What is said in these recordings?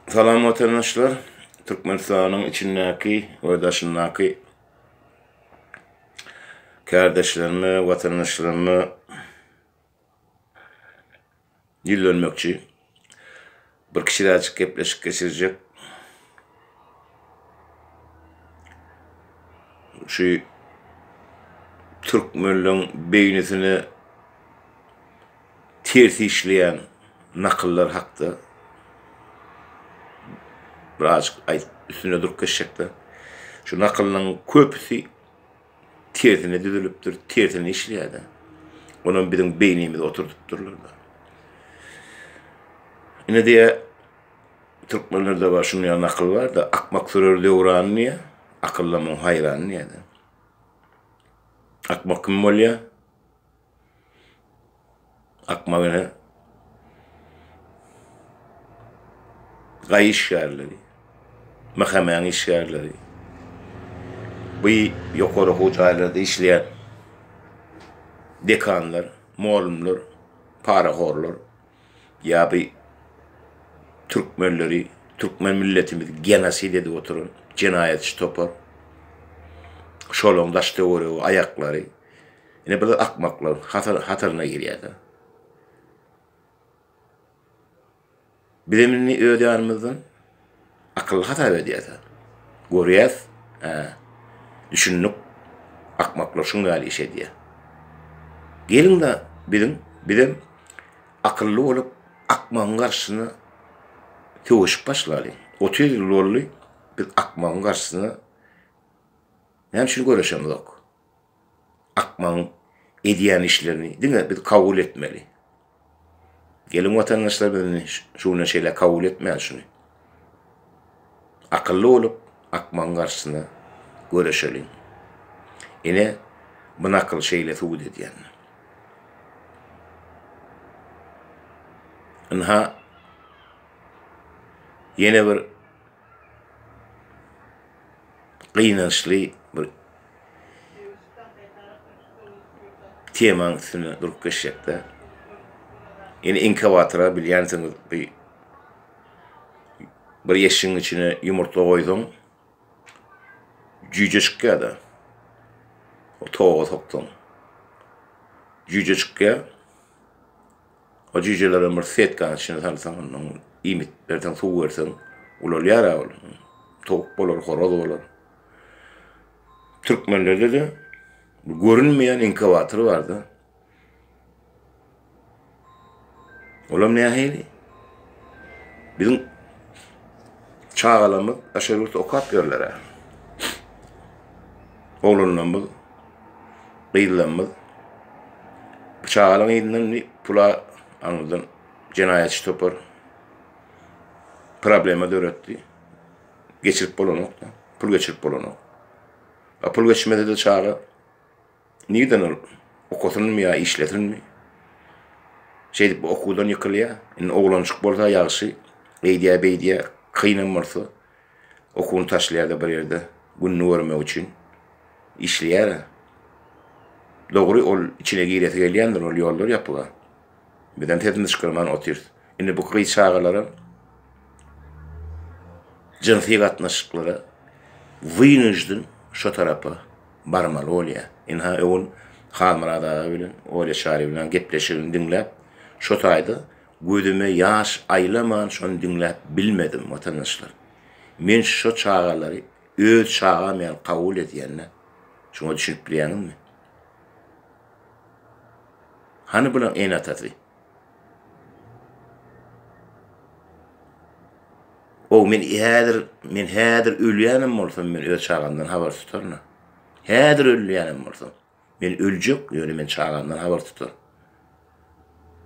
Salam watandaşlar. Türkmenistanyň içindäki we daşyndaky kärdeşlerime, watandaşlaryma ýüzlenmekçi. Bir kiçiräjik gepleşik geçirjek. Şu türkmenleň beýnisine Ters işleýän nakyllar hakda birazajyk aýdyp üstünde durup geçjekde. Şu nakyllaryň köpüsi tersine düzülipdir, tersine işleýärdi. Onam biziň beýnimize oturdypdyrlar. Ine diýä türkmenlerde bar şuny ýa nakyl barda akmak sürer döwran diýä akylly muň haýran diýä. Akmak kim bolýa? Akmal ene gaý işgärleri, mähemäň işgärleri, bu ýokary okuw jaýlarda işleýän dekanlar, mugallymlar parahorlar ýa bu türkmenleri, türkmen milletimizi genosid edip oturan jenaýatçy topar. Şolaryň daş-töweregi, aýaklary. Ine biz akmaklar hataryna girýäda. Bizem indi öz ýanymyzdan akylly hasap edýäda. Görýäs, hä, düşündik, akmaklar şuň ýaly iş edýär. Geliň-de biziň, bizem akylly bolup, akmagyň garşysyna söweşip başlalyň. Otuz ýyl boldy, biz akmagyň garşysyna näme üçin göreşemzok? akmagyň edýän işlerini diňe biz kabul etmeli. Geliň watandaşlar biz indi şu günden şeýle kabul etmäli şuny. Akylly bolup akmagyň garşysyna göreşeliň. Ine bu nakyl şeýle subut edýän. Ynha ýene bir gynançly bir temaň üstünde durup geçjekde. Ýene inkubatora bilýänsiňiz bir bir yeşigiň içine ýumurtga goýsaň jüýje çykýar-da. O toga soksaň. Jüýje çykýar. O jüýjelerem bir setkanyň içine salsaň, ondan iýmit berseň, suw berseň, ulalýar-a ol. Towuk bolar, horaz bolar. Türkmenlerde-de görünmeýän inkubator bar-da. Olam nähili? Biziň çagalarymyz daşary ýurtda okap ýörler-ä. Oglanlarymyz gyzlarymyz pyçalyň elinden diýip pula aňyrdan jenaýatçy topar problema döretdi. Geçirip bolanok da, pul geçirip bolanok. A pul geçmese de çaga nirden ol okasynmy ýa işlesinmi? Şeýdip okuwdan ýykylýar. Indi oglanjyk bolsa ýagşy, eýdýär-beýdýär, kynam bolsa Okuny taşlaýar-da bir ýerde gününi görmek üçin işleýär-ä. Dogry, ol içine giresi gelýändir, ol ýollar ýapyk-a. Bizem sesimizi çykarman otyrys. Indi bu gyz çagalaram jynsy gatnaşyklara wynujden şo tarapa barmaly bolýar. Ynha, öwün Halmyrat aga bilen Olýa Çaryýewna gepleşigini diňläp, şo taýda Gözüme ýaş aýlaman şony diňläp bilmedim watandaşlar. Men şo çagalary öz çagam ýaly kabul edýända şoňa düşünip bilýäňizmi? Hany bulaň ene atasy? Ow men häzir men häzir ölýänem bolsam men öz çagamdan habar tutaryn a. Häzir ölýänem bolsam. Men öljek, ýöne men çagamdan habar tutar.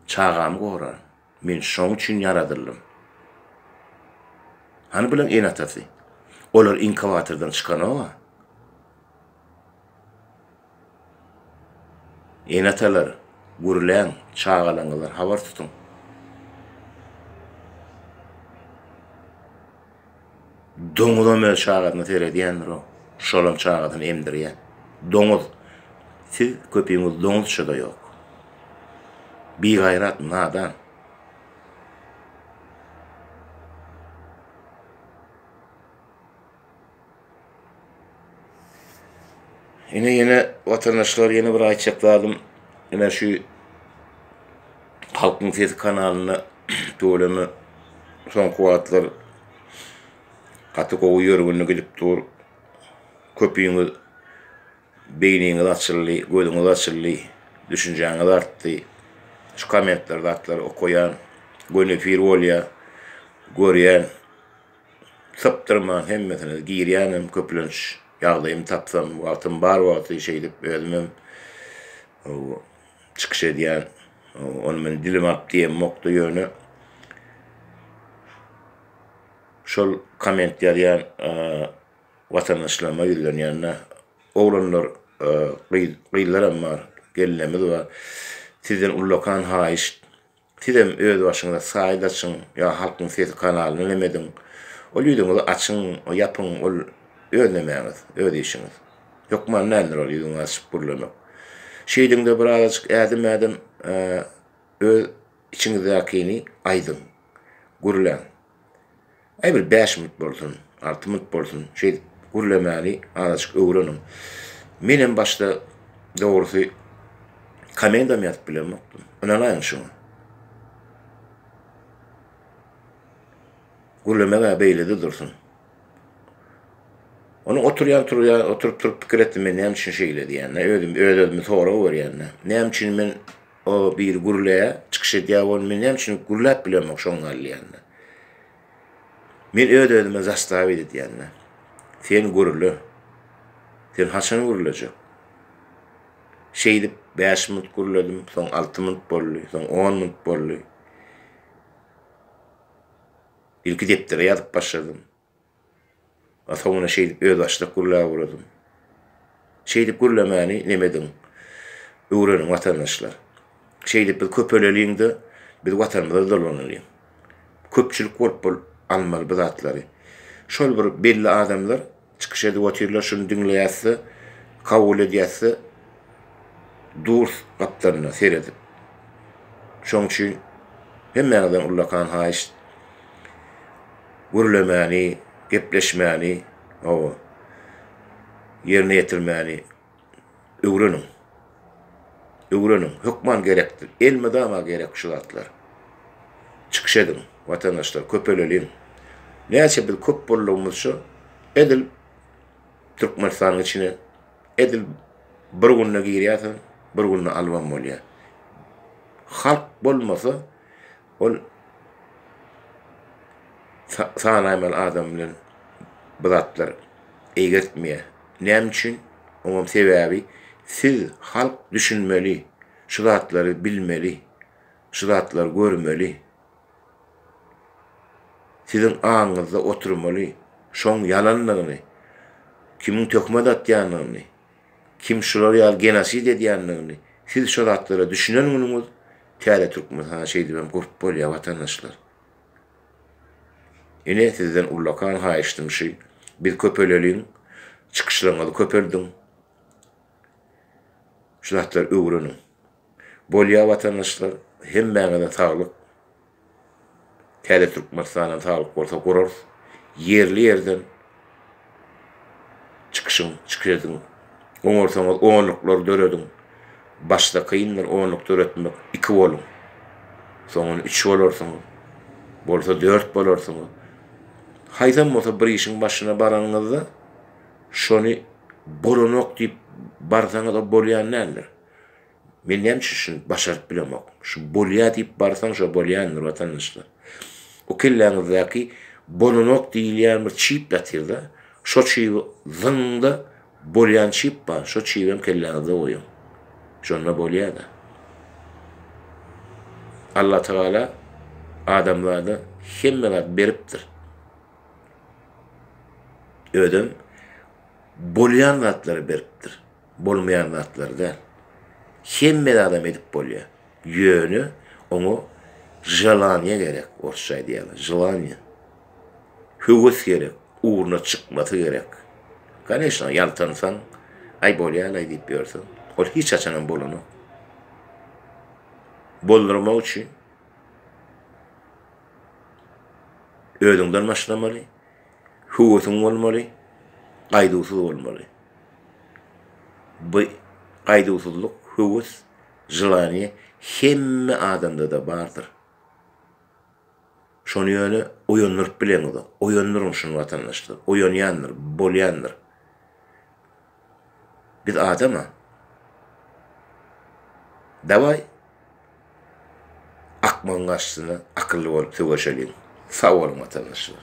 Çagamy gorar. Men şoň üçin ýaradyldym. Hany bulan ene-atasy? Olar inkubatordan çykanok-a. Ene-atalar, gürläň, çagalaňyzdan habar tutuň. Doňuzam öz çagasyna seredýändir o. Şolam çagasyny emdirýä. Doňuz. Siz köpiňiz doňuzçada ýok. Bigaýrat, nadan. Ine ýene watandaşlar ýene bir aýtjak zadym ine şu Halkyň sesi kanalyna tüweleme soňky wagtlar gaty gowy ýörgünli gidip dur. Köpüňiz beýniňiz açyldy, gözüňiz açyldy, düşünjäňiz artdy. Şu kommentler zatlary okaýan, göni efir bolýar, görýän. Sypdyrman hemmesine girýänem köplenç ýagdaýym tapsam wagtym bar wagty şeýdip özümem çykyş edýän ony men dilim ap diýemokda ýöne şol komment ýazýan watandaşlaryma ýüzlenýände oglanlar gyzlaram bar gelnemiz bar sizden ullakan haýyşt Sizem öz başyňyza saýt açyň ýa Halkyň sesi kanalyny ünem ediň. Ol ýüzüňizi açyň, ýapyň, ol öz nemäňiz, öz işiňiz. Hökman däldir ol ýüzüňi açyp gürlemek. Şeýdiňde birazajyk ädim-ädim öz içiňizdäkini aýdyň, gürläň. Aý bir bäş minut bolsun, alty minut bolsun, şeýdip gürlemäni azajyk öwreniň. Menem başda dogrusy komendam ýazyp bilemokdym. Ynanaýyň şuňa. Gürlemek-ä beýlede dursun. Onuň oturýan turýan, oturyp-turup pikir etdim men näme üçin şeýle diýende, özüm öz-özüme sorag berýän-de. Näme üçin men O biri gürleýä, çykyş edýä ol men näme üçin gürläp bilemok şoň gal diýende. Men öz özüme zastavit edýände. Sen gürle. Sen haçan gürlejek? Şeýdip bäş minut gürledim, soň alty minut boldy, soň on minut boldy. Ilki depdere ýazyp başladym. Atomyna şeýdip özbaşdak gürläp uradym. Şeýdip gürlemäni nem ediň. Öwreniň watandaşlar. Şeýdip biz köpeleliň-de, biz watanymyza dolanylyň. Köpçülik bolup bol almaly bu zatlary. Şol bir belli adamlar çykyş edip otyrlar şuny diňleýäs-de, kabul edýäs-de durs gapdalynda seredip. Şoň üçin hemmäňizden ullakan haýyşt gürlemäni, gepleşmäni, hawa, ýerine ýetirmäni öwreniň. Öwreniň, hökman gerekdir, elmydama gerek şu zatlar. Çykyş ediň, watandaşlar, köpeleliň. Näçe biz köp boldugymyzça, edil Türkmenistanyň içine edil bir günde girýärsiň, bir günde albam bolýar. Halk bolmasa, Ol sanaýmaly adam bilen bu zatlar eýgertmeýär. Näme üçin? Oňam sebäbi siz halk düşünmeli, şu zatlary bilmeli, şu zatlary görmeli. Siziň aňyňyzda oturmaly şoň ýalandygyny, kimiň töhmet atýandygyny. Kim şular ýaly genosid edýändigini siz şu zatlara düşünen günüňiz täze türkmen ha şeýdibem gurp bolýa watandaşlar. Ine sizden ullakan haýyştym şy biz köpeleliň çykyşlaryňyzy köpeldiň şu zatlary öwreniň. Bolýa watandaşlar hemmäňize saglyk täze Türkmenistanam saglyk bolsa gurarys ýerli ýerden çykyşyň çykyş ediň oňarsaňyz onluklar dörediň başda kyndyr onluk döretmek iki boluň soňun üç bolarsyňyz bolsa dört bolarsyňyz haýsam bolsa bir işiň başyna baranyňyzda şony bolanok diýip barsaňyz o bolýan däldir. Men näme üçin şuny başaryp bilemok? Şu bolýar diýip barsaň, şo bolýandyr, watandaşlar. O kelläňizdäki bolanok diýilýän bir çip ýatyr-da, şo çibi zyňyň-da, bolýan çip bar, şo çibem kelläňizde goýuň. Şonda bolýar-da. Allatagala adamzada hemme zat beripdir. Özem bolýan zatlary beripdir. bolmaýan zatlar däl. Hemme zadam edip bolýar. Ýöne oňa želaniýe gerek, orsça aýdýarlar, želaniýe. Höwes gerek, ugruna çykmasy gerek. Koneşno, ýaltansaň, aý bolýar-laý diýip ýörseň, ol hiç haçanam bolanok. Boldurmak üçin özüňden başlamaly, höwesiň bolmaly, gaýduwsyz bolmaly. Bu gaýduwsyzlyk, höwes, želaniýe hemme adamda-da bardyr. Şony ýöne oýandyryp bileňizok. Oýandyryň şuny watandaşlar. Oýanýandyr, bolýandyr. Biz adam-a. Dawaý, akmagyň garşysyna akylly bolup söweşeliň. Sag boluň watandaşlar.